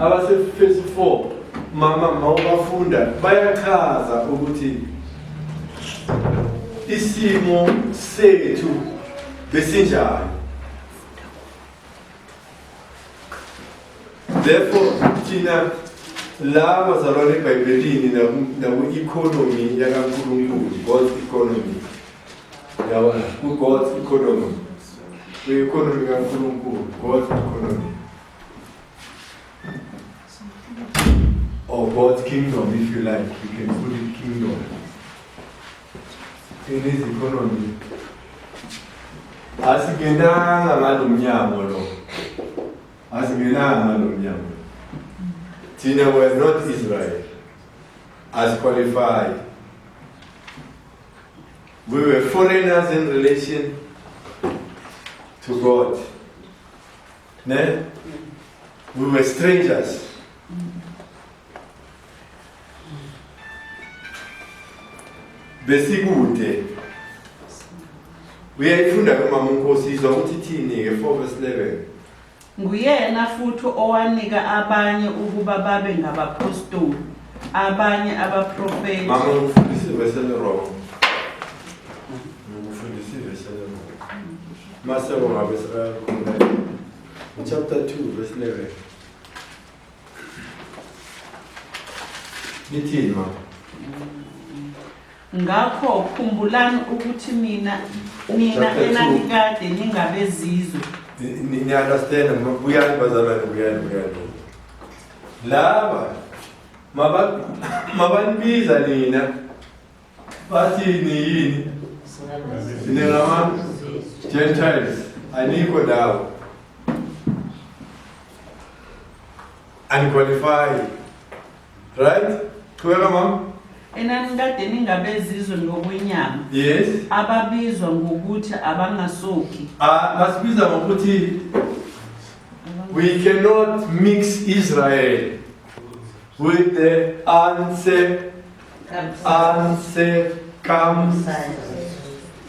abasefesi 4 mama mawubafunda bayachaza ukuthi isimo sethu besinjani therefore thina la bazalwane ebhayibhelini naku-economy yakankulunkulu god's economy Yabona, ku-God economy. Kwi-economy kaNkulunkulu, God economy. Or God's kingdom, if you like. You can put it kingdom. In his economy. Asingenanga ngalo mnyango lo. Asingenanga ngalo mnyango. Thina we're not Israel. As qualified. We were foreigners in relation to God. Ne? We were strangers. Besikude. Uyayifunda kumama uNkosi izwa ukuthi ithini ke 4 verse 11. Nguyena futhi owanika abanye ukuba babe ngabapostoli, abanye abaprofethi. Mama ngikufundisa ivesi elirong. Ngikufundisa ivesi elirong. Maseko ngabe sekakhona. Chapter 2 verse 11. Lithini mama? Ngakho khumbulani ukuthi mina nina Chapter two. enanikade ningabezizwe niyaunderstanda buyani bazalwane buyani buyani laba maba- mabanibiza nina bathi niyini ningama-gentiles anikho ndawo aniqualify Right? Qhubeka mama. Enanikade ningabezizwe ngokwenyama. Yes. Ababizwa ngokuthi abangasoki. Ah, basibiza ngokuthi we cannot mix Israel with the answer answer comes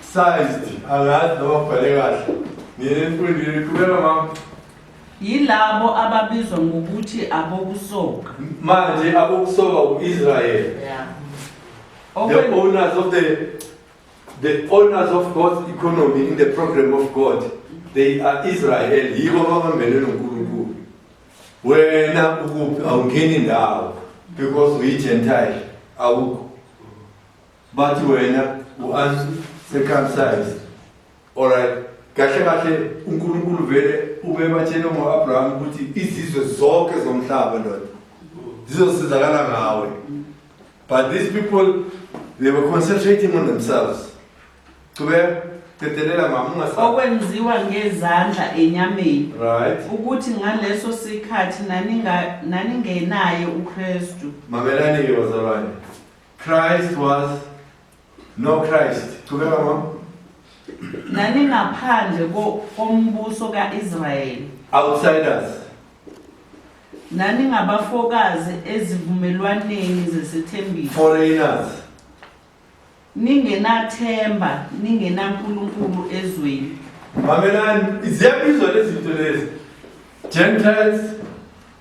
sized. Angazi noma ubhale kahle. Nginemfundile qhubeka mama. Yilabo ababizwa ngokuthi abokusoka. Manje abokusoka u-Israyeli. Yeah. The Okwe- owners of the the owners of God's economy in the program of God, they are Israel. Yibo ababambene noNkulunkulu. Wena ukuphi awungeni ndawo because we Gentile awukho. Bathi wena u-uncircumcised. Alright. Kahle kahle uNkulunkulu vele ubebatshele ngo-Abraham ukuthi izizwe zonke zomhlaba ndoda zizosizakala ngawe. But these people they were concentrating on themselves. Qhubeka qedelela mama ungasaba. okwenziwa ngezandla enyameni Right. ukuthi ngaleso sikhathi naninga- naningenaye ukristu Mamelani ke bazalwane. Christ was No Christ. Qhubeka mama. Naningaphandle kombuso kaIsrayeli. Outsiders. Naningabafokazi ezivumelwaneni zesethembiso. Foreigners. Ningenathemba, ningenaNkulunkulu ezweni. Mamelani, ziyabizwa lezi zinto lezi. Gentiles,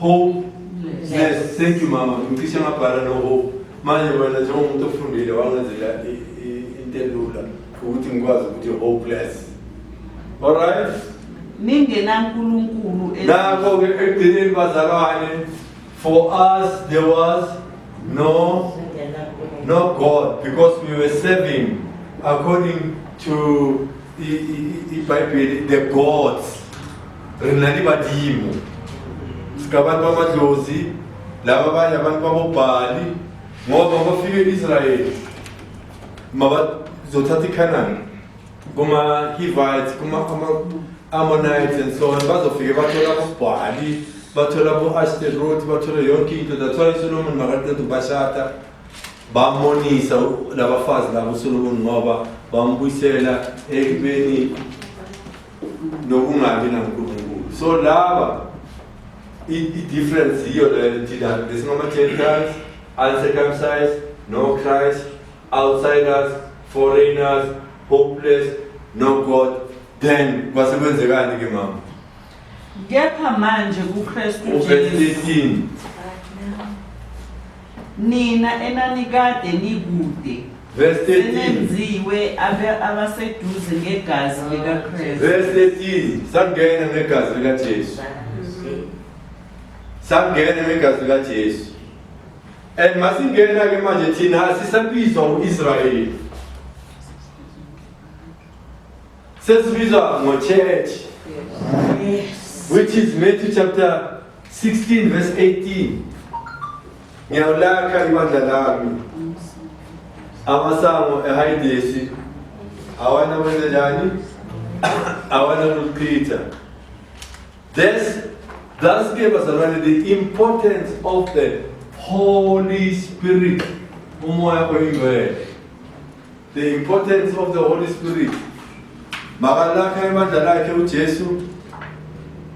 Homeless. Thank you mama. Ngicishe ngabhala no hope. Manje wena njengomuntu ofundile wangenzela into elula ukuthi ngikwazi ukuthi hopeless. All right? Ningenankulunkulu. Nakho ke ekugcineni bazalwane for us there was no no God because we were serving according to the, the, the, the gods re na le badimo seka bantu bamadlozi laba abanye abantu babobhali ngoba bafike e-israyeli mabazothatha ikhanani kuma-hivites kuma-ammonites and so on bazofike bathola abobhali bathola bo-ashterot bathole yonke into that's why usolomon makaqeda ukubashada bamonisa labafazi labo uSolomon ngoba bambuyisela ekubeni nokungabi nankulunkulu so laba i-difference yiyo leyo thina besingama-gentiles uncircumcised no christ outsiders foreigners hopeless no god then kwase kwenzekani ke mama kepha manje kukristu 13 Nina enanikade nikude Verse 13. senenziwe abe- abaseduze ngegazi likaKristu. Verse 13. Sangena ngegazi likaJesu. Sangena ngegazi likaJesu. And masingena ke manje thina asisabizwa uIsrayeli. Sesibizwa ngochurch. Yes. Which is Matthew chapter 16 verse 18. Ngiyawulakha ibandla lami. Amasango ehayidesi awana kwenze njani? Awana kuchitha. This thus gave us already the importance of the Holy Spirit. Umoya oyingcwele. The importance of the Holy Spirit. Makalakha emandla lakhe uJesu.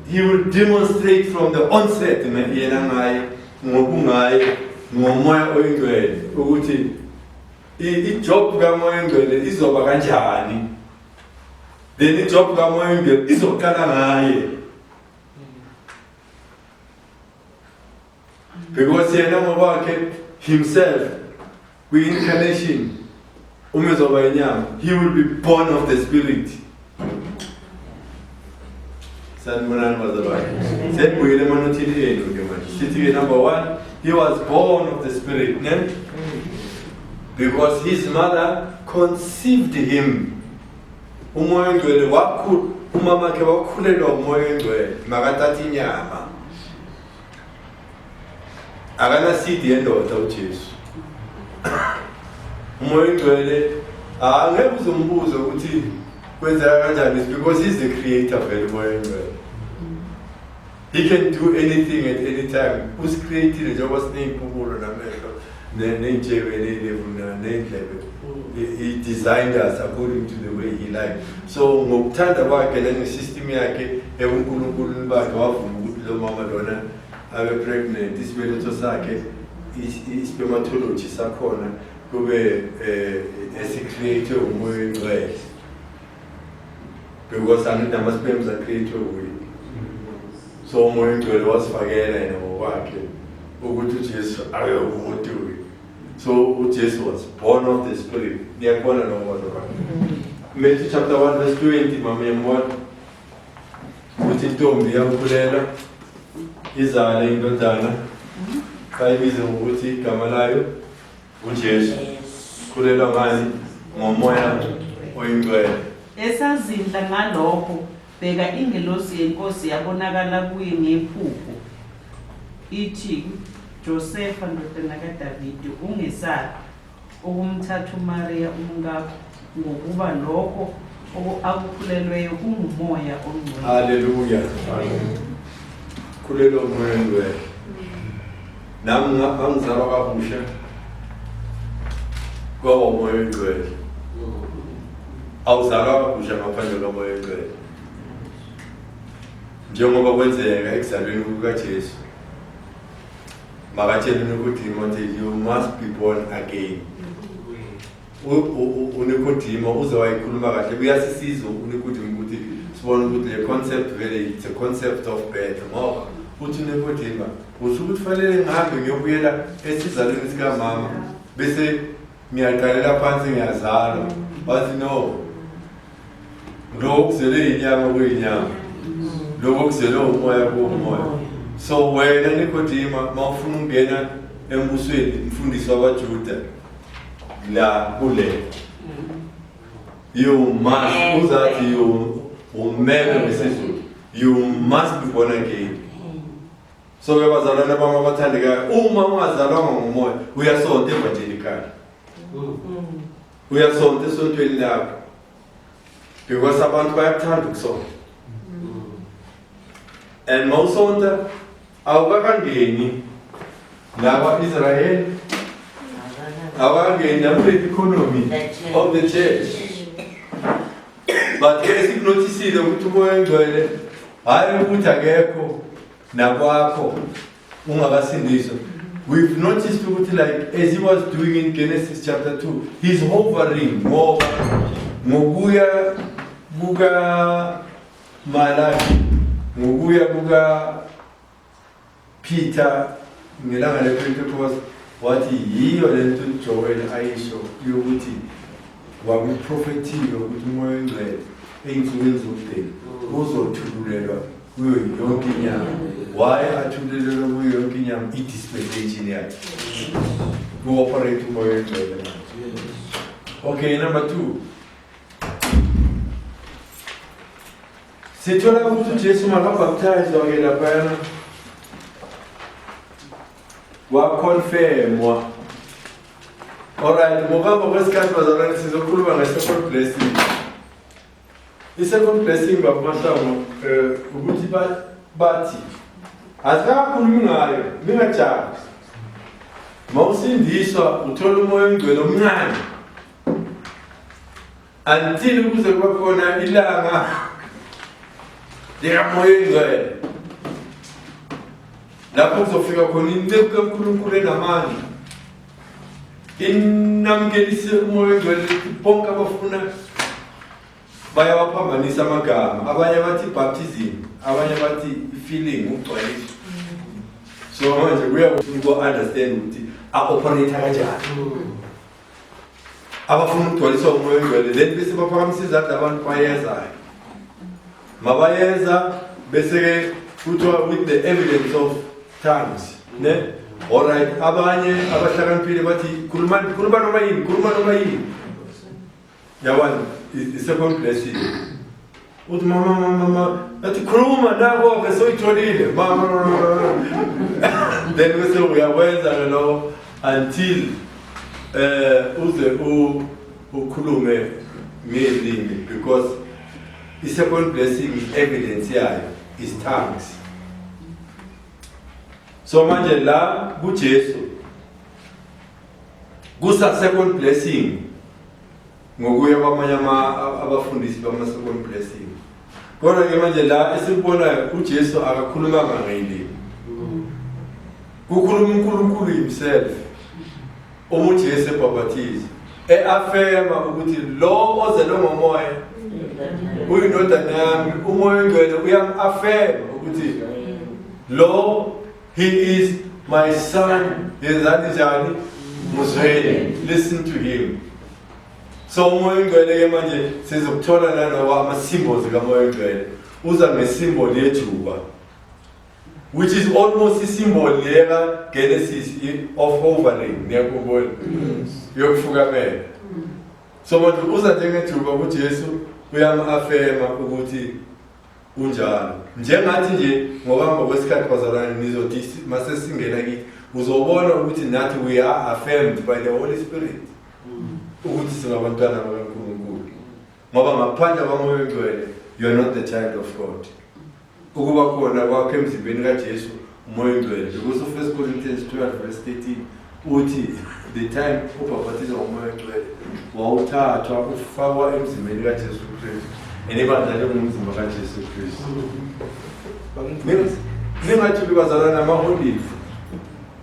He will demonstrate from the onset yena ngaye ngokungaye ngomoya oyingcwele ukuthi ijob kamoya oyingcwele izoba kanjani. Then ijob kamoya oyingcwele izoqala ngaye. Because yena ngokwakhe himself Kwi-incarnation uma ezoba inyama he will be born of the spirit. Sanibonani bazalwane. Siyabuyela emanothini enu ke manje. Sithi ke number 1 he was born of the spirit, ne? Because his mother conceived him. Umoya ongcwele wakhulu umama wakhe wakhulelwa umoya ongcwele makathatha inyama akanasidi yendoda uJesu umoya oyingcwele angeke ah, uze umbuze ukuthi kwenzeka kanjani because he's the creator vele umoya oyingcwele he can do anything at any time usicreatile njengoba sineyimpukulo namehlo ney'ntshebe ney'levu ney'ndlebe he designed us according to the way he liked so ngokuthanda kwakhe nangesystem yakhe ebunkulunkulu bakhe wavuma ukuthi lo mama lona abe pregnant isibeletho sakhe ispermatology sakhona kube um eh, esicreate umoya oyingcwele because angidama sibemu zakhethwe wuye so umoya ongcwele wasifakela yena ngokwakhe ukuthi ujesu ayokumuntu wuye so ujesu was born of the spirit niyakubona lowo mbono wakhe matthew chapter 1 verse 20 mama yambona ukuthi intombi iyamkhulela izale indodana xa ibize ngokuthi igama layo uJesu khulelwa ngani ngomoya oyingcwele esazindla ngalokho bheka ingelosi yenkosi yabonakala kuye ngephupho ithi josefa ndodana kadavide ungesabi ukumthatha umariya umkakho Ngokuba lokho akukhulelweyo kungumoya ongcwele. Haleluya. Khulelwa umoya ongcwele. Nami ngangizalwa kabusha kwaba umoya ongcwele. Awuzalwa kabusha ngaphandle komoya ongcwele. Njengoba kwenzeka ekuzalweni kukaJesu. Makatshela ukuthi you must be born again. uNikodima uze wayikhuluma kahle kuyasisiza uNikodima ukuthi sibone ukuthi le concept vele it's a concept of birth ngoba uthi uNikodima uthi ukuthi fanele ngihambe ngiyobuyela esizalweni sikamama bese ngiyaqalela phansi ngiyazalwa wathi no Lokho kuzelwe yinyanga kuyinyanga. Lokho kuzelwe umoya kuwomoya. So wena Nikodima mawufuna ukungena embusweni mfundisi wabaJuda la kule. You must uzathi you umele ngesizulu. You must be born again. So ke bazalwane bami abathandekayo uma ungazalwanga ngomoya uyasonta evangelikali. Mm. Uyasonta esontweni lakho because abantu bayakuthanda ukusonta and mawusonta awukakangeni nakwa-israyeli awukakangeni nakule economy of the church but ke sikunothisile ukuthi umoya engcwele hhayi ukuthi akekho nakwakho ungakasindiswa we've noticed ukuthi like as he was doing in genesis chapter 2 he's hovering ngoba ngokuya kukamalaki ngokuya kukapeter ngelanga lepentecost wathi yiyo le nto ujoel ayisho yokuthi Wakuprofethile ukuthi umoya oyingcwele ey'nsukwini zokudeni uzothululelwa kuyo yonke inyanga why athululelwe kuyo yonke inyanga i-dispensation yakhe ku-operate umoya oyingcwele okay number two sithola ukuthi ujesu makabhaptayizwa-ke laphayana wakhonfemwa alright ngokuhamba kwesikhathi bazalwane sizokhuluma nge-second blessing i-second blessing babumahlango um eh, ukuthi bathi asikakhulumi ngayo ningajabi ma usindiswa uthola umoya ongcwele omncane until kuze kube khona ilanga likamoya oyingcwele lapho kuzofika khona inceku kankulunkulu enamandla inamkelise umoya oyingcwele bonke abafuna bayawaphambanisa amagama abanye bathi baptism abanye bathi feeling ukugcwaliswa so manje kuya kuthi uko-understand ukuthi a-operator kanjani abafuna ukugcwaliswa umoya ongcwele then bese baphakamisa izandla abantu bayezayo mabayeza bese-ke kuthiwa with the evidence of tongues ne alright abanye abahlakaniphile bathi khuluma noma yini khuluma noma yini Yabona isekompileshini uthi mama mama mama athi khuluma nako-ke soyitholile mama then bese uyakwenza-ke lokho until um uze ukhulume ngezimi because i-second blessing i-evidence yayo is tongues so manje la kujesu kusa-second blessing ngokuya kwamanye abafundisi bama-second blessing kodwa-ke manje la esikubonayo ujesu akakhulumanga ngeyilimi kukhuluma unkulunkulu himself uma ujesu ebhabhathiza e-afema ukuthi lo ozelwe ngomoya uyindodana yami umoya ongcwele uyam-afema ukuthi lo He is my son. Yenzani njani? Muzweni. Listen to him. So umoya oyingcwele ke manje sizokuthola nanoba ama-symbols kamoya oyingcwele uza nge-symbol yejuba which is almost isimbol leka Genesis of hovering niyakubona yokufukamela so manje uza njengethuba ukuthi Jesu uyamafema ukuthi kunjalo njengathi nje ngokuhamba kwesikhathi bazalwane nizothi mase singena kithi uzobona ukuthi nathi we are affirmed by the holy spirit ukuthi singabantwana bakankulunkulu ngoba ngaphandle kwamoya oyingcwele you are not the child of god ukuba khona kwakho emzimbeni kajesu Moya oyingcwele because of 1 Corinthians 12 verse 13 uthi the time ubhapathiza ngomoya oyingcwele wawuthathwa ufakwa emzimbeni kaJesu Kristu and ibandla lingumzimba kaJesu Kristu ningathi ubazalwa namaholive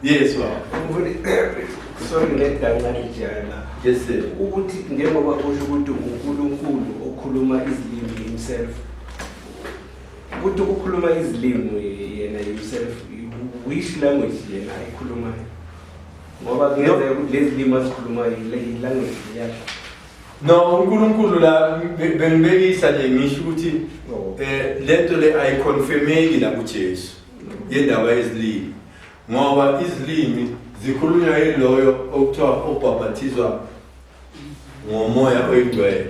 yes wa sorry ngedangalijana yes sir ukuthi njengoba kusho ukuthi uNkulunkulu okhuluma izilimi himself Ukuthi ukukhuluma izilimi yena yourself which language yena ayikhulumayo ngoba kungenzeka ukuthi lezi limi azikhulumayo yilanguage yakhe no unkulunkulu la bengibekisa nje ngisho ukuthi oh. eh, le nto le ayiconfirmeki la kujesu yendaba yezilimi ngoba izilimi zikhulunywa yiloyo okuthiwa obhabhathizwa ngomoya oyingcwele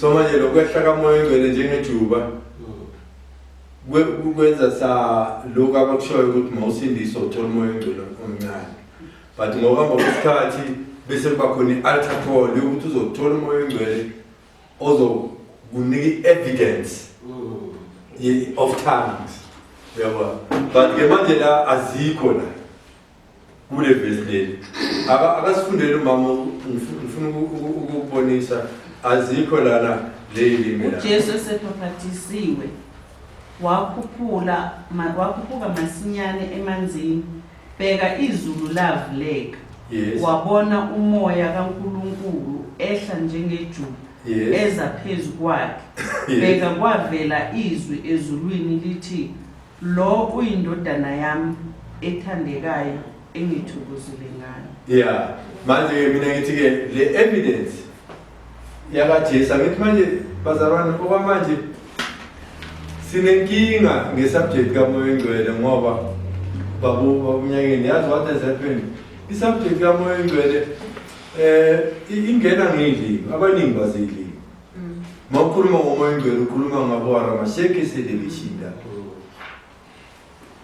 so manje lokwehla kamoya oyingcwele njengejuba kwenza sa lokhu abakushoyo ukuthi mawusindiswa uthola umoya oyingcwele omncane but ngokuhamba kwesikhathi bese kuba khona i-alter call yokuthi uzothola umoya oyingcwele ozokunika i-evidence mm. of tongues uyabona but-ke manje la azikho la kule vesi leli akasifundele umama ngifuna ukukubonisa azikho lana leyilimi ujesu esebhaphathisiwe wakhuphula wakhuphuka masinyane emanzini bheka izulu lavuleka yes. wabona umoya kankulunkulu ehla njengejuba yes. eza phezu kwakhe yes. bheka kwavela izwi ezulwini lithi Lo uyindodana yami ethandekayo engithokozile ngayo. Yeah. Manje ke mina ngithi ke le evidence yakaJesu ngithi manje bazalwane okwamanje sinenkinga ngesubject kamoya engcwele ngoba babu babunyakeni yazi what has happened isubject kamoya engcwele eh ingena ngidlini abaningi bazidlini Mm. Makhuluma ngomoya ongcwele ukhuluma ngabo aramasheke selebishinda. Mm.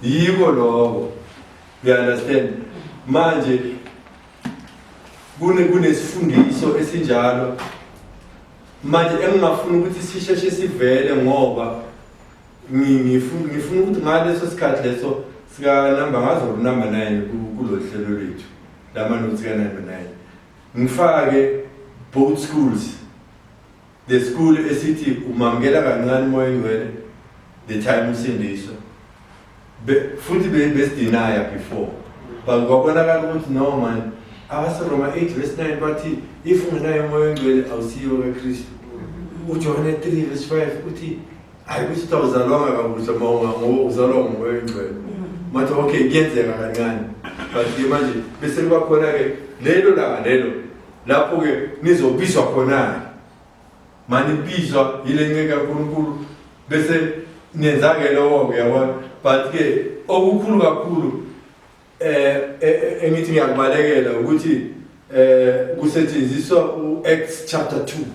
Yiko lokho. You understand? Manje kune kunesifundiso esinjalo manje engingafuna ukuthi sisheshe sivele ngoba ngifuna ngifuna ukuthi ngaleso sikhathi leso sika number ngazo number 9 kulolu hlelo lwethu lama nothi ka number 9 Ngifake both schools. The school esithi umamukela kancane umoya oyingcwele the time usindiswa. Be- Futhi be- besidinaya before. But kwabonakala ukuthi no man abaseRoma 8 verse 9 bathi if ungenayo umoya oyingcwele awusiyo kaKristu. uJohane 3 verse 5 uthi hayi kusho ukuthi awuzalwanga kabusha ma ngoba uzalwa ngumoya oyingcwele mathi okay kuyenzeka kancane but-ke manje bese kuba khona-ke lelo langa lelo lapho-ke nizobizwa khona-ke manibizwa yile nceke kankulunkulu bese nenza-ke lowo-ke yabona but-ke okukhulu kakhulu um engithi ngiyakubalekela ukuthi um kusetshenziswa u-acts chapter two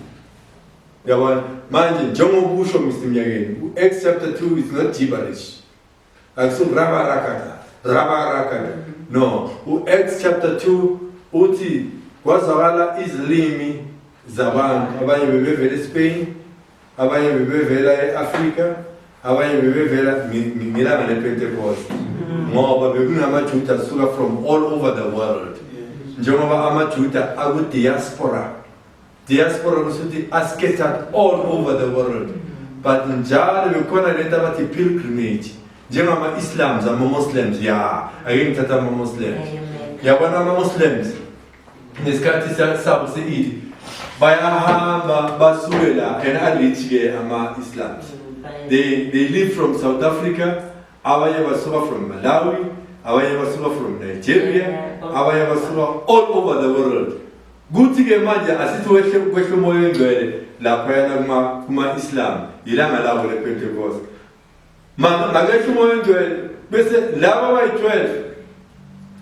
Uyabona? Manje njengoba usho Mr Mnyakeni, u-Acts chapter 2 is not gibberish. Akusungrabarakata, rabarakata. No, u-Acts chapter 2 uthi kwazwakala izilimi zabantu abanye bebevela eSpain, abanye bebevela eAfrika, abanye bebevela ngelanga lePentecost. Mm-hmm. Ngoba bekunamaJuda asuka from all over the world. Njengoba amaJuda aku diaspora Diaspora kusuthi ascattered all over the world but njalo bekhona lento abathi pilgrimage njengama-islams ama-muslims ya ake ngithatha ama-muslims yabona ama-muslims nesikhathi sabo se-idi bayahamba basuke la and a-rich-ke ama-islams they, they live from south africa Abanye basuka from Malawi, abanye basuka from Nigeria, abanye basuka all over the world. Kuthi ke manje asithi wehle kwehle umoya oyingcwele lapho yana kuma kuma Islam ilanga labo le Pentecost. Manje makehle umoya oyingcwele bese laba bayi 12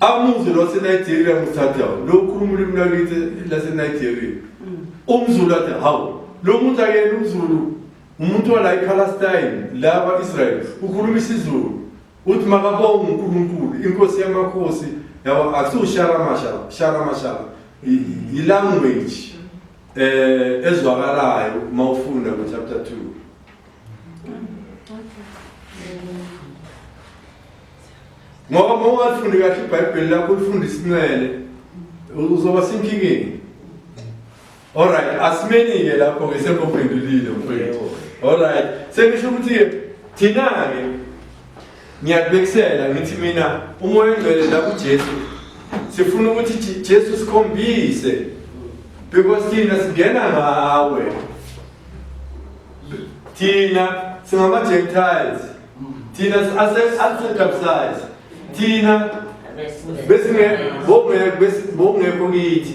amuzulu waseNigeria muthatha lo ukhuluma ulimi lwakithi laseNigeria. Mm. Umzulu athi hawu lo muntu akena umzulu Umuntu wala ePalestine la kwa-Israel ukhuluma isiZulu uthi makabonge uNkulunkulu inkosi yamakhosi yabo akusiwusharamashara sharamashara yilanguage eh ezwakalayo uma ufunda ku chapter 2 ngoba uma ungafundi kahle ibhayibheli lakho ulifunda isinwele uzoba senkingeni Alright, asimeni-ke lapho-ke sekuphendulile mfowethu. Alright, sekusho ukuthi-ke thina-ke ngiyakubekisela ngithi mina umoya ongcwele la kuJesu sifuna ukuthi Je- Jesu sikhombise because thina singena ngawe thina singama-gentiles thina asetabsize thina besingekho kithi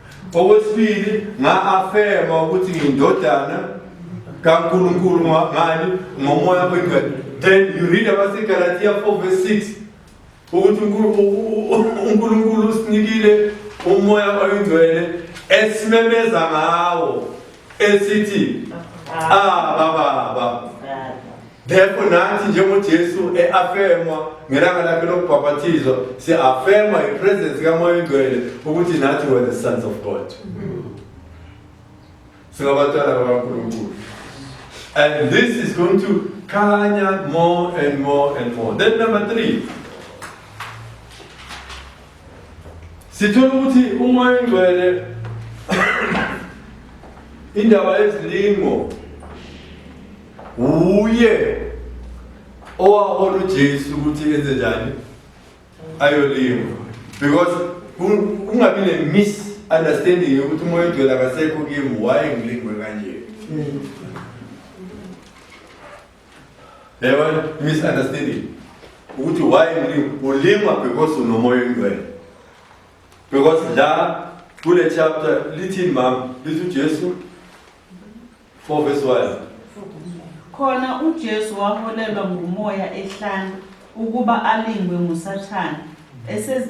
Okwesibili, nga-afema ukuthi ngiyindodana kaNkulunkulu ngani ngomoya wengane. Then you read about Galatians 4 verse 6 ukuthi uNkulunkulu usinikile umoya oyingcwele esimemeza ngawo esithi aba baba therefore nathi njengojesu e-afemwa ngelanga lakhe lokubhabhathizwa si-afemwa yipresence kamoya oyingcwele ukuthi nathi were the sons of god singabatwana bakankulunkulu and this is going to khanya more and more and more then number three Sithola ukuthi umoya oyingcwele indaba yezilingo wuye owahola uJesu ukuthi enze njani ayolingo because kungabi ne misunderstanding yokuthi umoya oyingcwele akasekho kimi waye ngilingwe kanje mm. Yebo, misunderstanding. Ukuthi why ulima? Ulima because unomoya oyingcwele. Because la kule chapter lithini mama? Lithi uJesu 4 verse 1. Khona uJesu waholelwa ngumoya ehlane ukuba alingwe nguSathane. Ese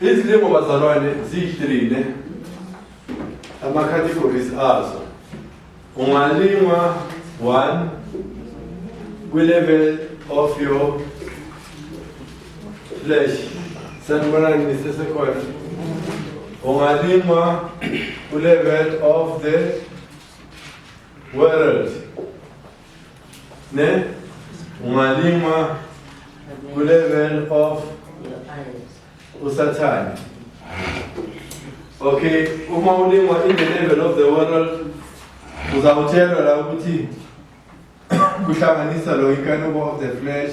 Izilimo bazalwane ziyihlelile ama-categories azo ungalingwa one kwi-level of your flesh sanibonani nisesekhona ungalingwa kwi-level of the world Ne? Ungalingwa ku-level of usathane. Okay, uma ulingwa in the level of the world uzawuthelwa la ukuthi kuhlanganisa lo inkanuko of the flesh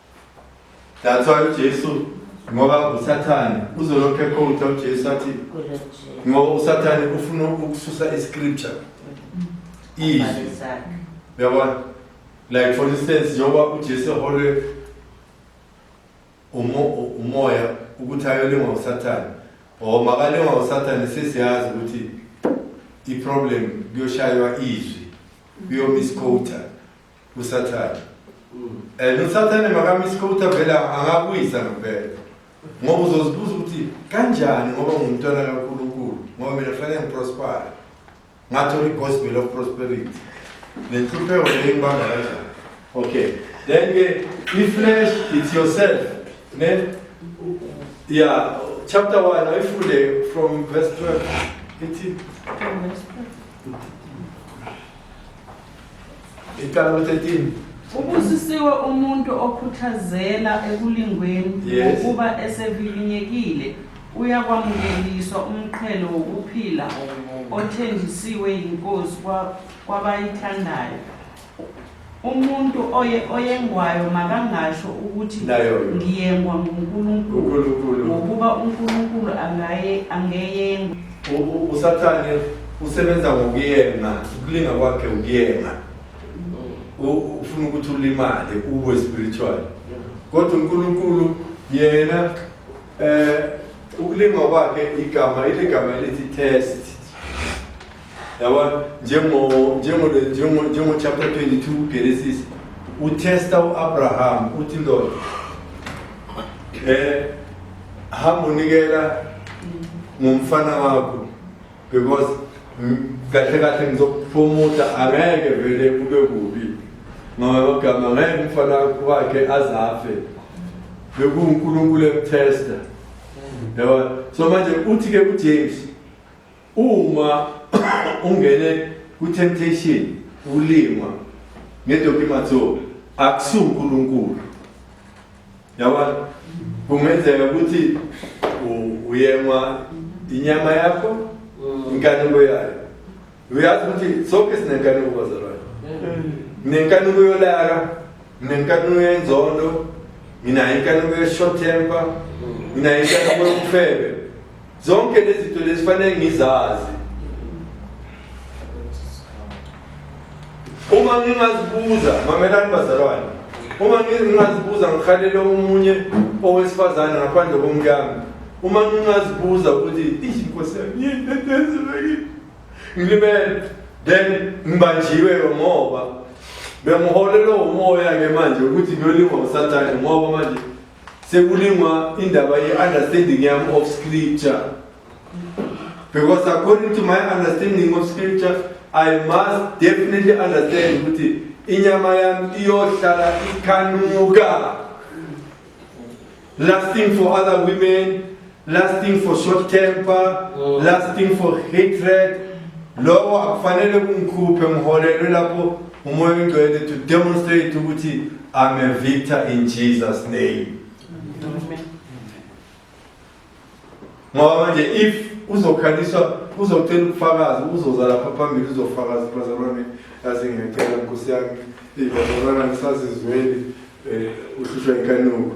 That's why uJesu ngoba uSathane uzolokhe ekhotha uJesu athi ngoba uSathane ufuna ukususa iscripture izwi yabona like for instance njengoba uJesu eholwe umoya ukuthi ayolingwa uSathane or makalingwa uSathane sesiyazi ukuthi iproblem kuyoshaywa izwi kuyomisquota usathane and usathane makamisi kokuthi avele angakuyisa ngempela ngoba uzozibuza ukuthi kanjani ngoba ngumntwana kankulunkulu ngoba mina kufanele ngiprospare ngathola i-gospel of prosperity nenhlupheko leyo engibanga kanjani okay then ke i-flesh it's yourself ne ya chapter 1 ayifunde from verse 12 ithi Icala lo 13. Ubusisiwe umuntu okhuthazela ekulingweni Yes. ukuba esevivinyekile uyakwamukeliswa umqhele wokuphila othenjisiwe yiNkosi kwa- kwabayithandayo. Umuntu oye oyengwayo makangasho ukuthi Nayo. ngiyengwa nguNkulunkulu UNkulunkulu. ngokuba uNkulunkulu angaye angeyengwa usathane usebenza ngokuyema ukulinga kwakhe ukuyema ufuna ukuthi ulimale uwe spiritual kodwa unkulunkulu yena eh ukulinga kwakhe igama ile gama elithi test yabona njengo njengo njengo njengo chapter 22 Genesis utesta uAbraham uthi ndoda eh hamba unikela ngomfana wakho because kahle kahle ngizokuphumuda angeke vele kube kubi ngoba bagama ngeke umfana wakhe azafe bekuwunkulunkulu emthesta yabo so manje uthi-ke ujames Uma ungene ku-temptation ulingwa ngedokimatho akusunkulunkulu yabona kungenzeka ukuthi uyengwa inyama yakho mm. inkanuko yayo uyazi ukuthi sonke sinenkanuko bazalwane mm. nginenkanuko yolaka nginenkanuko yenzondo nginayo inkanuko ye-short temper mm. nginayo inkanuko yokufebe zonke lezi zinto lezi fanele ngizazi uma ngingazibuza mamelani bazalwane uma ngingazibuza ngihalele omunye owesifazane ngaphandle komkami uma ngingazibuza ukuthi inkosi yami yini endenzelekile ngilimele then ngibanjiwe ngoba bengiholelwe umoya-ke manje ukuthi ngiyolingwa usathane ngoba manje sekulingwa indaba ye-understanding yami of scripture because according to my understanding of scripture i must definitely understand ukuthi inyama yami iyohlala ikhanuka lasting for other women lasting for short temper oh. lasting for hatred lokho akufanele kungikhuphe ngiholelwe lapho umoya ongcwele to demonstrate ukuthi i'm a victor in jesus name ngoba manje if uzokhaliswa uzocela ukufakaza uzoza lapha phambili uzofakaza bazalwane asingecela nkosi yami bazalwana ngisazizweli um uhlushwa inkanuko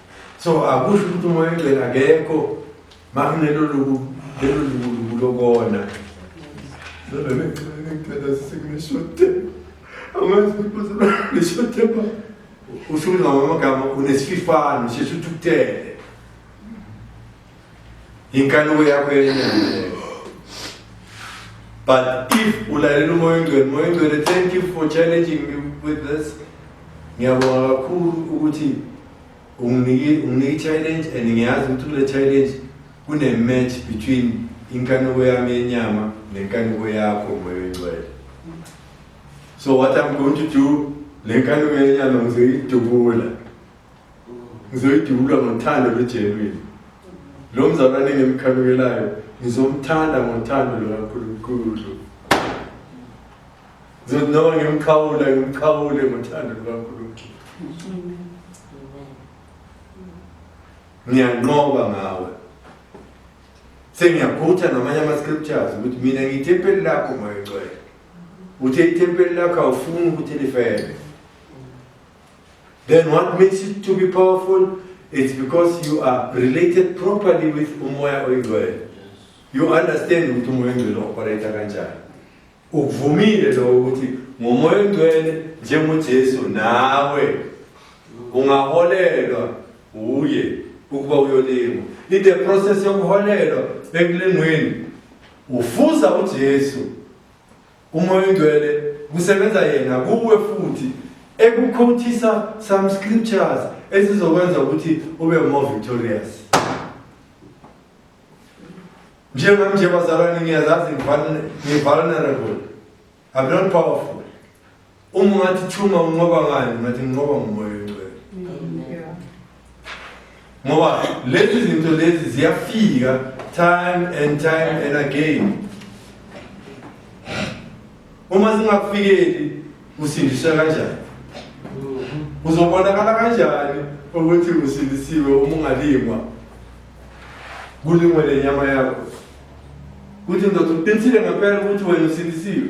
so akusho ukuthi umoya oyingcwele akekho makunelo luku lelo lukuluku lokona usuke ngamamagama unesififane sheshe uthi ukutele Inkanuko yakho yenene. But if ulalela umoya oyingcwele, umoya oyingcwele, thank you for challenging me with this. Ngiyabonga kakhulu ukuthi unginike unginike challenge and ngiyazi ukuthi kule challenge kune match between inkanuko yami yenyama nenkanuko yakho umoya oyingcwele. So what I'm going to do, le nkanuko yenyama ngizoyidubula. ngizoyidubula ngothando lwejenwini lo mzalwane engimkhanukelayo ngizomthanda ngothando lukankulunkulu ngizothi noma ngimkhawula ngimkhawule ngothando lukankulunkulu ngiyanqoba ngawe sengiyaphutha namanye ama-scriptures ukuthi mina ngiyithempeli lakho moyocwele uthe ithempeli lakho awufuni ukuthi lifele Then what makes it to be powerful? It's because you are related properly with umoya oyingcwele. You understand ukuthi umoya oyingcwele operate kanjani. Ukuvumile lo ukuthi ngomoya oyingcwele njengoJesu nawe ungaholelwa uye ukuba uyolingwa. In the process yokuholelwa ekulingweni ufuza uJesu Umoya ongcwele kusebenza yena kuwe futhi ekukhothisa some scriptures ezizokwenza ukuthi ube more victorious njengam nje bazalwane ngiyazazi ngi-vulnerable i'm not powerful Uma ungathi thuma unqoba ngani ngathi nginqoba ngomoya oyingcwele. Ngoba lezi zinto lezi ziyafika time and time and again. Uma singakufikeli usindiswa kanjani? Uzobonakala kanjani ukuthi usindisiwe uma ungalingwa? Kulingwe lenyama yakho. Kuthi ndoda uqinisile ngempela ukuthi wena usindisiwe.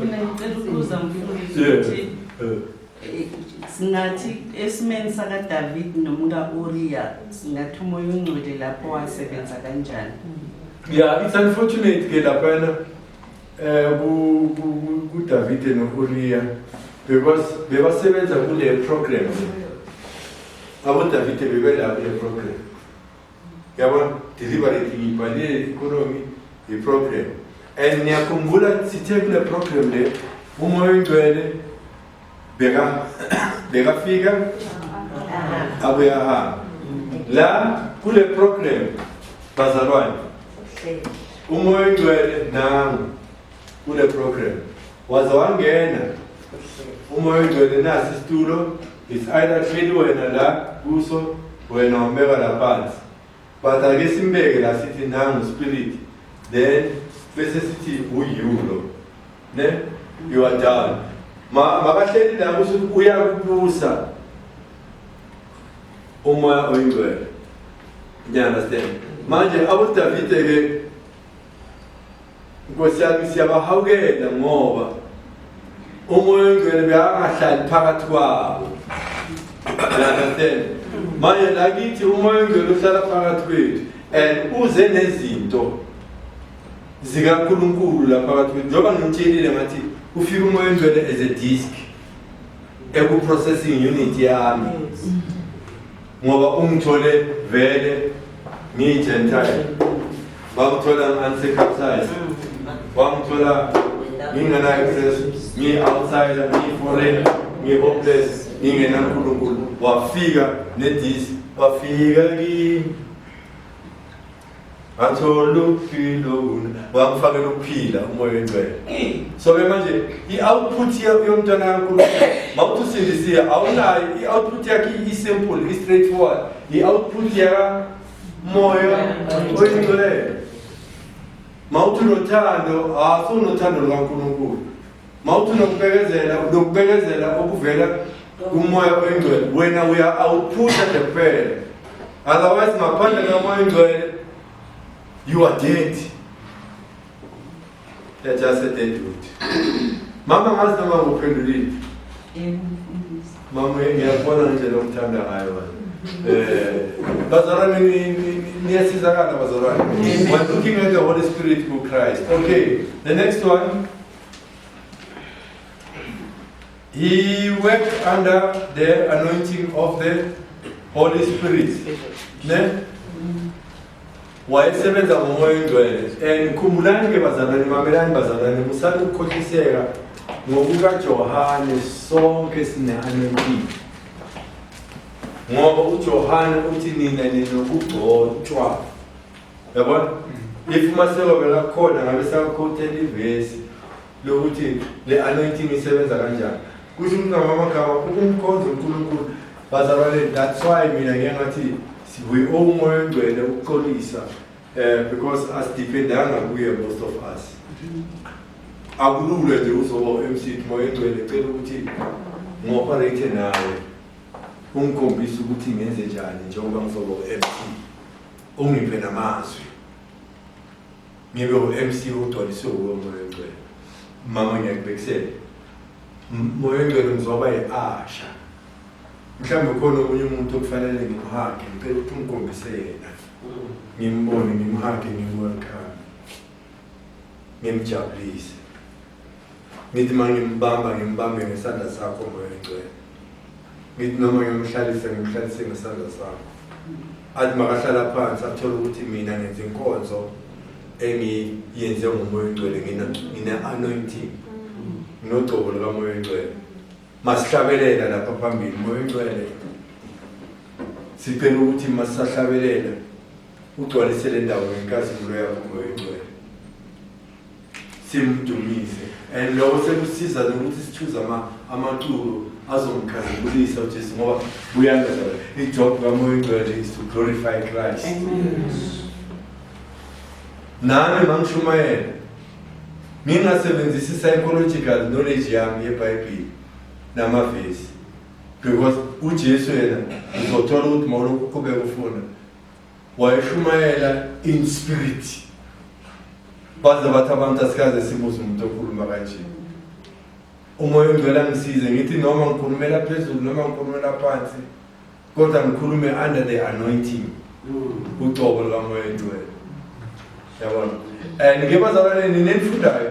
mina ngicela ukubuza mfundisi Yeah. ukuthi Eh, eh, singathi esimeni sakadavidi nomka-uriya singathi umoya ongcwele lapho wasebenza kanjani Yeah, it's unfortunate ke laphana eh ku- ku- ku- kuDavide noUriya because bebasebenza kule program. Abo Davide bebela kule program. Yabona, deliberately ngibhalile i-economy i-problem and ngiyakhumbula sithe kule problem le umoya oyingcwele beka bekafika abuye ahamba la kule problem bazalwane umoya oyingcwele nangu kule program waze wangena umoya ogcwele nasi isitulo it's either hleli wena la kuso wena umbeka la phansi but ake simbeke la sithi nangu spirit then bese sithi uyulo ne you are done ma makahleli la kuso uyakubusa umoya oyingcwele ngiyaunderstand manje abodavide-ke Nkosi yami siyabahawukela ngoba umoya oyingcwele beyangahlali phakathi kwabo understand manje lakithi umoya oyingcwele uhlala phakathi kwethu and uze nezinto zikaNkulunkulu la phakathi kwethu njengoba ngimtshelile ngathi ufika umoya oyingcwele as a disk eku-processing unit yami ngoba ungithole vele ngiyi-gentile bangithola ngi-anticapsile bangithola ngingenayo access ngiyi-outsider ngiyi-foreign ngiyi-hopeless ngingenankulunkulu wafika nedisi wafika kimi ngathola ukuphila wakufakela ukuphila umoya oyingcwele so-ke manje i-output yomntwana kankulunkulu mawuthi usindisiye awunayo i-output yakhe i-simple i-straight forward i-output yakamoya oyingcwele mawuthi unothando awusunothando lukankulunkulu mawuthi unokubekezela unokubekezela okuvela kumoya oyingcwele wena uya awuphusha nje kuphela otherwise ngaphandle kamoya oyingcwele you are dead they're just a dead wood mama ngazi noma nguphendulile mama ngiyakubona ngendlela omthanda ngayo wena Eh, bazalwane niyasizakala bazalwane we're looking at the holy spirit through christ okay the next one He worked under the anointing of the Holy Spirit. Ne? Wayesebenza ngomoya oyingcwele. And khumbulani ke bazalwane, mamelani bazalwane, musani ukukhohliseka ngokukaJohane sonke sine-anointing. Ngoba uJohane uthi nina ninokugcotshwa yabona if uma sewabela kukhona ngabe sakhothela ivesi lokuthi le anointing isebenza kanjani kusho ukuthi ngamamagama ukumkhonza unkulunkulu bazalwane that's why mina ngiye ngathi we owe umoya ongcwele ukuxolisa um because asidependanga kuye most of us akulula nje uzoba u-mc moya ongcwele cela ukuthi ngi-operate nawe ungikhombise ukuthi ngenze njani njengoba ngizoba u-mc ungiphe namazwi ngibe u-mc ugcwaliswe wuwe moya ongcwele mama ngiyakubekisela moya ongcwele ngizoba yi-asha mhlawumbe khona okunye umuntu okufanele ngimhage ngicela ukuthi ungikhombise yena ngimbone ngimhage ngimwelcome ngimjabulise ngithi uma ngimbamba ngimbambe ngesandla sakho moya oyingcwele ngithi noma ngimhlalise ngimhlalise ngesandla sakho athi makahlala phansi athole ukuthi mina ngenza inkonzo engiyenze ngomoya oyingcwele ngine-anointing nginogcobo lukamoya oyingcwele masihlabelela lapha phambili moya oyingcwele sicela ukuthi masisahlabelela ugcwalise le ndawo ngenkazimulo yakho moya oyingcwele simdumise and lokho sekusiza nokuthi sithuze amaculo azomkhazimulisa ujesu ngoba buyangaza ijob kamoya oyingcwele is to glorify christ nami mangishumayela ngingasebenzisi psychological knowledge yami yebhayibhile namavesi because ujesu yena uzothola ukuthi mawulokhu uqhubeka ufunda wayeshumayela in spirit baze bathi abantu asikaze sibuze umuntu okhuluma kanje umoya ongcwele angisize ngithi noma ngikhulumela phezulu noma ngikhulumela phansi kodwa ngikhulume under the anointing mm. ucobo lukamoya ongcwele yabona and ke bazalwane nina enifundayo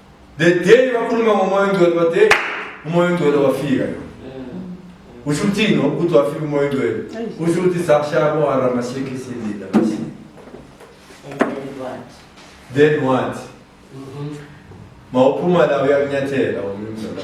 The day wakhuluma ngomoya ongcwele but hey umoya ongcwele wafika yona. Usho ukuthini ukuthi wafika umoya ongcwele? Usho ukuthi sakushaya bohara masiki silila basi. Then what? Mawuphuma la uyakunyathela umnumzane.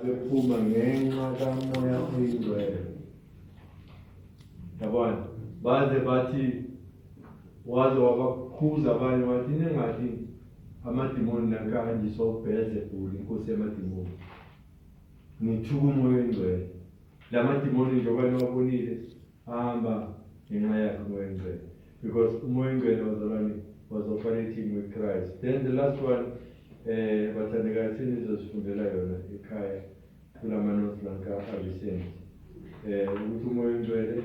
abephuma ngenxa kamoya oyingcwele yabona baze bathi waze wabakhuza abanye wathi ningathi amadimoni nakanje sobheze bhuli inkosi yamadimoni ngithuka umoya oyingcwele la madimoni njengoba niwabonile Hamba ngenxa yakhe umoya ongcwele because umoya ongcwele wazalwane was operating with Christ. Then the last one eh bathandekayo senizozifundela yona ekhaya kula manothi lanka avisent eh ukuthi umoya ongcwele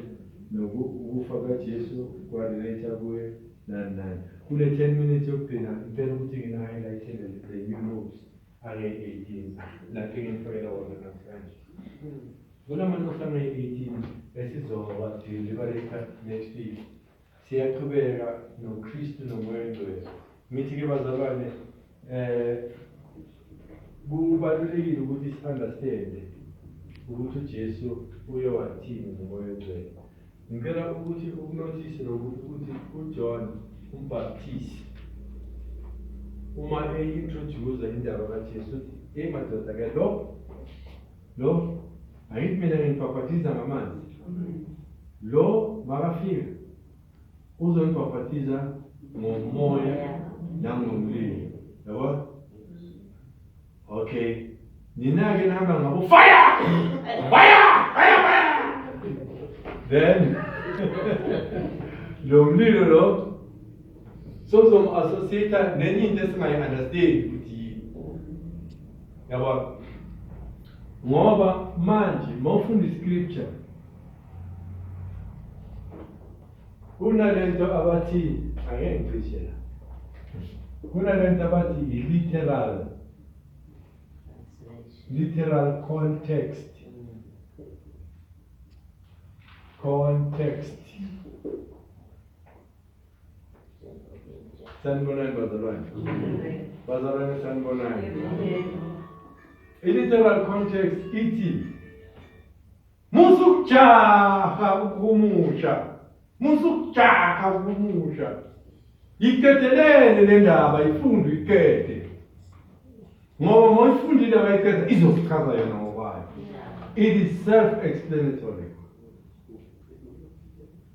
nokufa kaJesu kwarelate kuye nani nani kule 10 minutes yokugcina ngicela ukuthi ngina-highlighte le new rules ange-18 lapho engimfakela wona namhlanje kunamantu asange-18 esizowadiliva leta next week siyaqhubeka nokristu nomoya engcwele ngithi-ke bazalwane um kubalulekile ukuthi si-understande ukuthi ujesu uye wathini ngomoya engcwele Ngicela ukuthi ukunothise nokuthi ukuthi uJohn umbhaptizi uma eyi-introduce indaba kaJesu uthi yeyi madoda ke lo lo ayithi mina ngingibhabhatiza ngamanzi lo makafika uzongibhabhatiza ngomoya nangomlilo yabo Okay. Nina ke nihamba ngabo fire! Fire! Fire! Fire! Then lo mlilo lo sozom associate nenye into esingayi understand ukuthi yini. Yabo. Ngoba manje mawufunda iscripture Kunalento abathi angeke ngicishe la. Kunalento abathi i-literal literal context context sanibonani bazalwane bazalwane sanibonani i-literal context ithi Musa ukujaha ukuhumusha. Musa ukujaha ukuhumusha. Yiqedelele le ndaba ifundu iqede. Ngoba uma uyifundile wayiqeda izokuchaza yona ngokwayo. It is self-explanatory.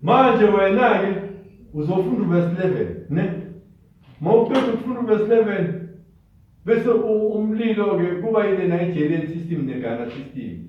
Manje wena-ke uzofunda uverse 11 ne? Uma uqeda ukufunda uverse 11 bese umlilo-ke kuba yilena i-Jelian system ne-Ghana system.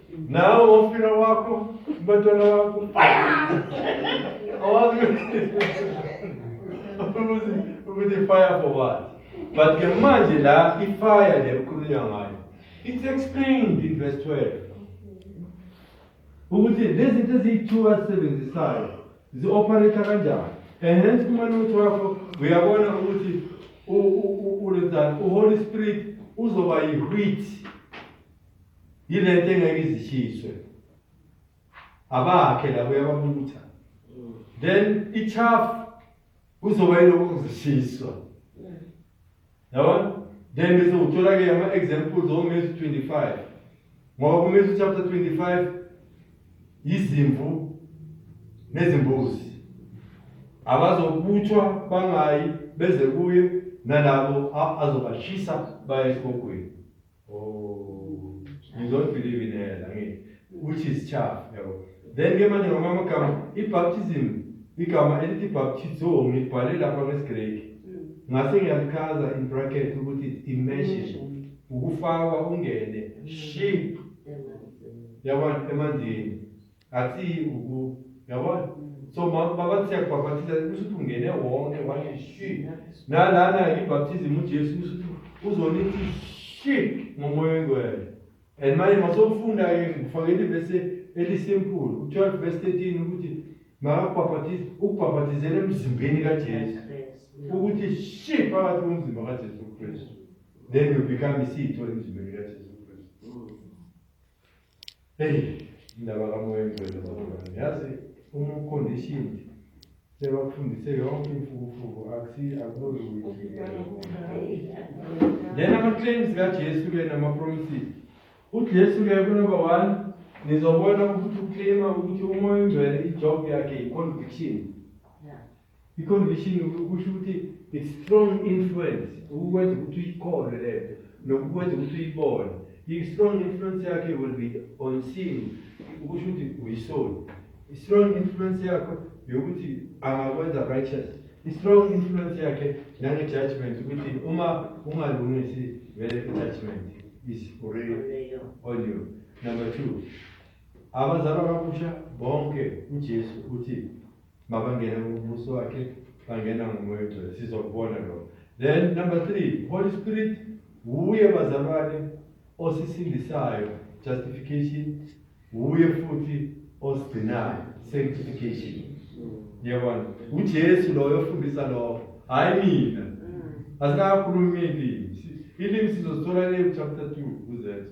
Nawe wofika wakho umbatwana wakho awazi ukuthi ukuthi fire for what but ke manje la ifire le kukhulunywa ngayo it's explained in verse 12 ukuthi lezi zinto eziyi-two azisebenzisayo zi-operator kanjani and hence kumane ukuthi wakho uyabona ukuthi ulenzani uholy spirit uzoba yi-wheat yilento engeke izishiswe abakhe labo yababutha then ichafu kuzoba yilokho kuzishiswa yabona then bese uthola-ke ama-examples omesu 25 ngoba kumesu chapter 25 yizimvu nezimbuzi abazobuthwa bangayi beze kuye nalabo azobashisa baye esibogweni Oh, you don't believe in hell, I mean, which is chaff, yabo. Then ke manje ngamanye amagama i-baptism igama elithi baptizo ngibhale lapha ngesigreki. Ngase ngiyalichaza in bracket ukuthi it's immersion, ukufakwa ungene, ship, yabona emanzini. Ngathi uku yabona so babathi yakubhaphathiza kusho ukuthi ungene wonke wathi shi nalana ibhaptizim ujesu kusho ukuthi uzonithi shi ngomoya oyingcwele and manje masofunda ke ngifakele ibese elisimple u-12 verse 13 ukuthi makakubhaphathize ukubhaphathizela emzimbeni kajesu ukuthi shi phakathi komzimba kajesu kristu then you become isitho emzimbeni kajesu Eyi, indaba kamoya engcwele bazalwane. Yazi uma ucondition sebakufundise yonke imfukufuku akusi akunozukuthi. Then ama-claims kaJesu-ke nama-promises. UJesu-ke kunoba one nizobona ukuthi uclaima ukuthi umoya ongcwele ijob yakhe yi-conviction. I-conviction kusho ukuthi it's strong influence ukukwenza ukuthi uyikholwe le nto nokukwenza ukuthi uyibone i-strong influence yakhe will be on sin ukusho ukuthi uyisoni i-strong influence yakho yokuthi angakwenza righteous i-strong influence yakhe nange-judgment ukuthi uma ungalungisi vele i-judgment is already on you number two abazalwa kabusha bonke ujesu uthi Mabangena ngomubuso wakhe, bangena ngomoya ongcwele. Sizokubona lokho. Then number three, Holy Spirit wuye bazalwane osisindisayo, justification, wuye futhi osigcinayo, sanctification. Niyabona? UJesu loyo ofundisa lokho, hhayi mina. Asikakhulumi ilimi. Ilimi sizosithola le chapter 2 kuZethu.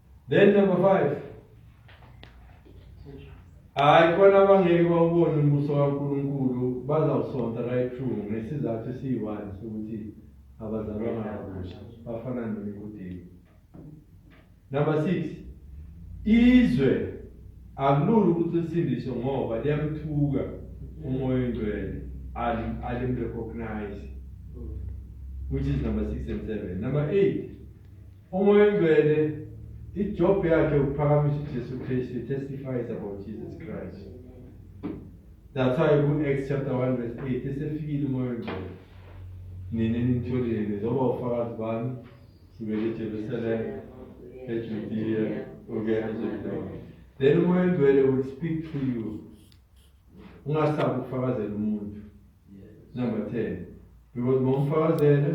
Then number 5 hayi kona abangeke bawubone umbuso kaNkulunkulu bazawusonta right through ngesizathu esiyi-one sokuthi abazalwanga kabusha bafana nonikudini number six izwe akulula ukuthi lisindiswe ngoba liyamthuka umoya oyingcwele alimrecognize which is number six and seven number eight Umoya oyingcwele ijob yakhe ukuphakamisa uJesu Kristu testifies about Jesus Christ. That's why ku Acts chapter 1 verse 8 esefikile umoya oyingcwele. Nina nitholile nizoba ufakazi bami sibele eJerusalem, eJudea, ungena eJerusalem. Then umoya oyingcwele will speak to you ungasabi ukufakazela umuntu number 10 because ngomfakazela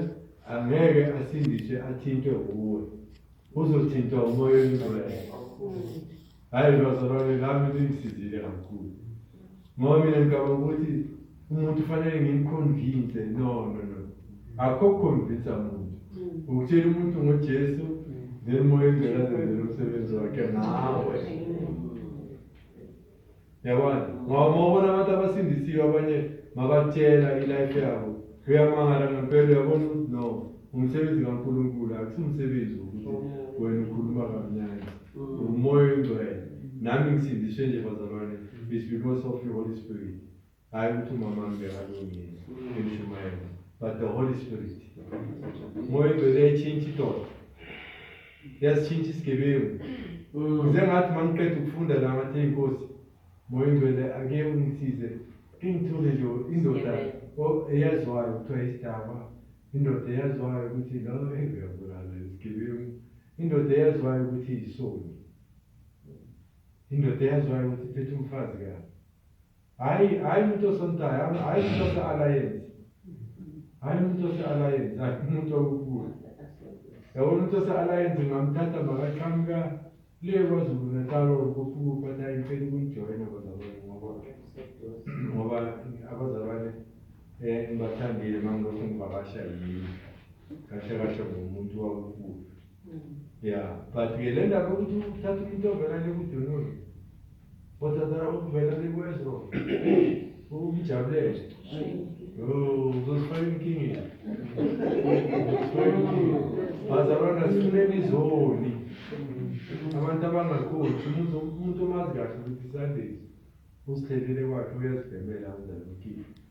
angeke asindiswe athintwe kuwe uzothintwa umoya oyingcwele hhayi bazalwane lami lingisizile kakhulu ngoba mina ngicabanga ukuthi umuntu ufanele ngimkhonvinse no no no akho kukhonvinsa muntu ukutshela umuntu ngojesu then moya oyingcwele azenzela umsebenzi wakhe nawe yabona ngoba uma ubona abantu abasindisiwe abanye mabatshela ilife yabo uyamangala ngempela uyabona ukuthi no umsebenzi kankulunkulu akusiwumsebenzi wokuthi oh. wena ukhuluma kamnyanya mm. umoya oyingcwele nami ngisindiswe nje bazalwane is because of your holy spirit hayi ukuthi umama wami bekalungile ngishumayela but the holy spirit moya ingcwele yayitshintsha idoda yasitshintsha isigebengu ngize ngathi ma ngiqeda ukufunda la ngathi eyinkosi moya ingcwele ake ungisize ingithole nje indoda eyaziwayo kuthiwa isidaba indoda eyaziwayo ukuthi lo engiyabulala isigebengu indoda eyaziwayo ukuthi isoni indoda eyaziwayo ukuthi iphethe umfazi kabi Hayi, hayi umuntu osontayo, hayi umuntu ose-alliance. Hayi umuntu ose-alliance, hayi umuntu okubuka. Yabona umuntu ose-alliance ngamthatha makaqhamuka le kwaZulu Natal or kufukufa naye ngicela ukungijoyina bazalwane ngoba ngoba abazalwane eh ngibathandile mangilokhu ngivakasha yini kahle kahle ngomuntu wakufukufa. Yeah, but-ke le ndaba yokuthi uthatha umuntu ovela le kudunulu Kodwa cha ukuvela likwenza ukujabulele. Yo, uzosifaka inkingeni. Uzosifaka inkingeni. Bazalwana sifuneni izoni. Abantu abangakhoni umuntu umuntu omazi kahle ukuthi Sundays usithelele kwakhe uyazibhemela uzalukile.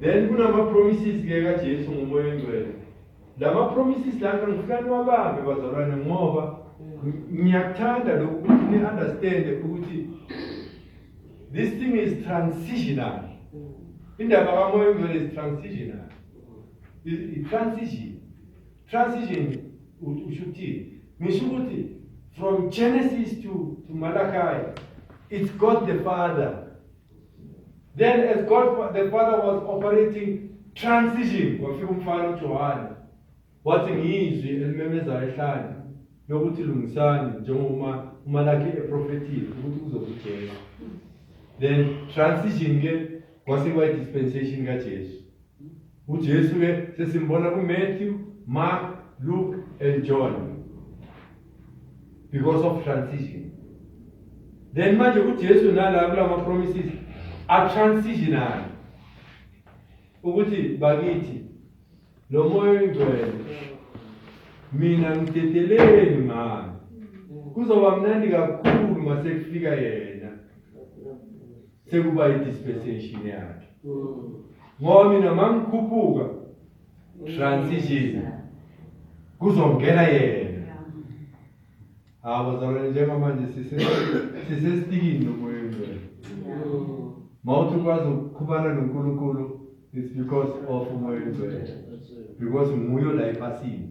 Then kunama promises ke ka Jesu ngomoya ongcwele. Lama promises la ngifuna niwabambe bazalwane ngoba ngiyakuthanda lokhu ukuthi ni understand ukuthi this thing is transitional. Indaba kamoya ongcwele is transitional. Is transition. Transition usho ukuthi ngisho ukuthi from Genesis to to Malachi it's God the Father Then as God the Father was operating transition wafika umfana uJohane wathi ngizwi elimemezayo ehlane lokuthi lungisani njengoba umalaki eprofethile ukuthi kuzokuJesu then transition ke kwase kwayi dispensation kaJesu uJesu ke sesimbona kuMatthew, Mark, Luke and John because of transition then manje uJesu nala kulama promises a transitional ukuthi bakithi lo moya oyingcwele mina ngidedeleni mani kuzoba mnandi kakhulu masekufika yena sekuba i-dispensation yakhe ngoba mina mangikhuphuka transition kuzongena yena hawu bazalwane njengamanje sisesitikini nomoya ongcwele ma uthi ukwazi ukukhubana nonkulunkulu it's because of umoya ongcwele because nguyo la ephasini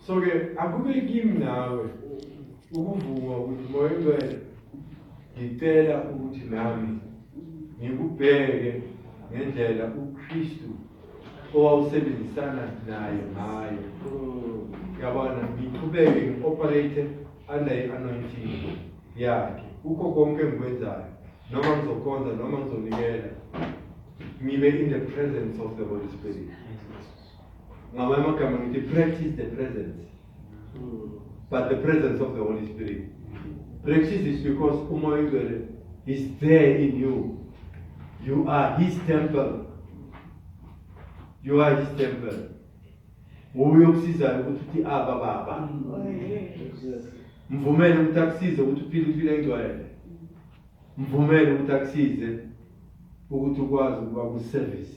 So ke akube kimi nawe ukuvuma ukuthi moya ngcwele ngicela ukuthi nami ngikubheke ngendlela uKristu owawusebenzisana naye ngayo yabona ngiqhubeke ngioperate under i-anointing yakhe kukho konke engikwenzayo noma ngizokhonza noma ngizonikela ngibe in the presence of the holy spirit ngamanye amagama ngithi practice the presence but the presence of the holy spirit practice is because umoya oyingcwele is there in you you are his temple you are his temple nguye okusizayo ukuthi uthi aba baba mvumele ukuthi akusize ukuthi uphile impilo engcwele mvumele ukuthi akusize ukuthi ukwazi ukuba kuservice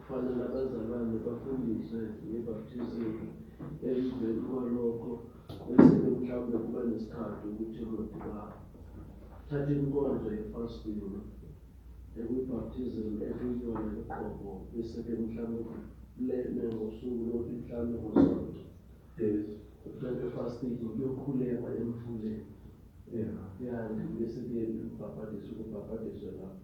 Kufanele abazalwane bafundiswe ngebaptizimi emveni kwalokho bese-ke mhlawumbe kuba nesikhathi ukuthi lodibana thatha inkonzo yefasting ekuyibaptizim ekuyiyona yoqobo bese-ke mhlawumbe lene ngosuku lokuthi mhlawumbe ngosonto uhlale efasting kuyokhulekwa emfuleni ya bese-ke ukubhabhadiswa ukubhabhadiswa lapho